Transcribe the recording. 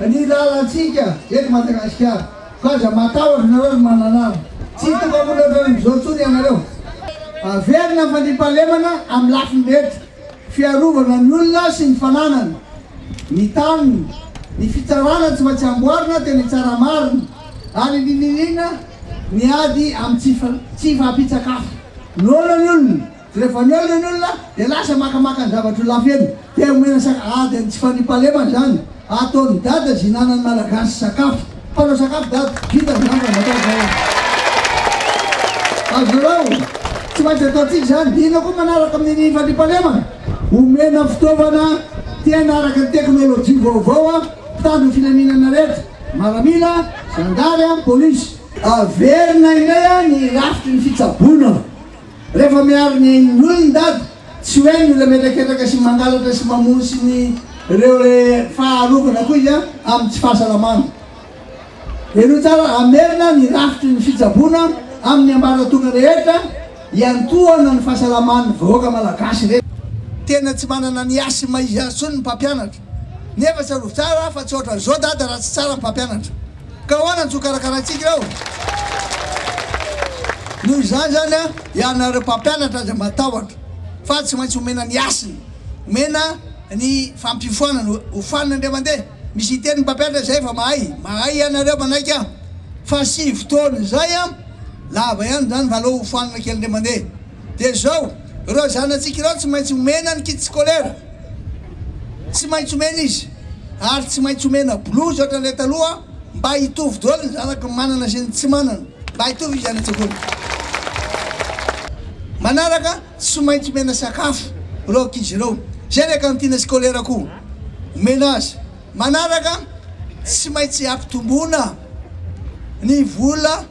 ny lalantsika eto Madagasikara fa aza matahotra nareo ry Mananara tsy hitondra olona ohatran'izao intsony ianareo averina ny fandriampahalemana amin'ny lafiny rehetra fiarovana ny olona sy ny fananany ny taniny ny fitsarana tsy maintsy amboarina tena hitsara marina ary indrindra indrindra ny ady amin'ny tsy fampitsakafo noana ny olona Rehefa nihaona ny olona dia lasa makamaka ny zavatra ho lafo eny dia omena sakafo. Aa dia ny tsy fandriampahalemana izany ataon'i dada zihinanan'ny malagasy sakafo. Mpanao sakafo dada, vita izany raha matahotra aina. Azonareo? Tsy maintsy ataontsika izany. Dia inona koa manaraka amin'ny fandriampahalemana? Omena fitaovana tena araka ny teknolojia vaovao an, mpitandro ny filaminana rehetra, maramila, zandary an, polisy. Averina indray an ny rafitry ny fitsaboana. Rehefa miaro ny nony ny dada, tsy hoe ny olona mihetraketraka sy mangalatra sy mamono sy ny reo re fa arovana koa izy amin'ny tsy fahasalamana. Henoy tsara, hamerina ny rafitry ny fitsaboana amin'ny ambaratonga rehetra hiantohana ny fahasalaman'ny vahoaka malagasy re. Tena tsy manana ny asthme izy azy tsony ny mpampianatra. Nefa tsarovy tsara aho fa tsy ohatran'izao dada raha tsy tsara ny mpampianatra. Ka ahoana no tsy ho karakaraintsika ireo? Noho izany izany an, ianareo mpampianatra aza matahotra fa tsy maintsy omena ny hasiny, omena ny fampiofanana, hofanina indray mandeha. Misy hiteny ny mpampianatra izay efa mahay, mahay ianareo manaiky aho. Fa sivy taona izay an, lava ihany izany fa aleo hofanina kely indray mandeha. Dia izao, ireo zanatsika ireo tsy maintsy omena ny kit scolaire, tsy maintsy omena izy, ary tsy maintsy omena blouse ohatran'ilay taloha mba hitovy daholo ny zanaky ny manana sy ny tsy manana, mba hitovy izy any an-tsekoly. Manaraka, tsy maintsy omena sakafo ireo ankizy ireo, izay ilay cantine scolaire koa omena azy. Manaraka, tsy maintsy ampitomboina ny vola.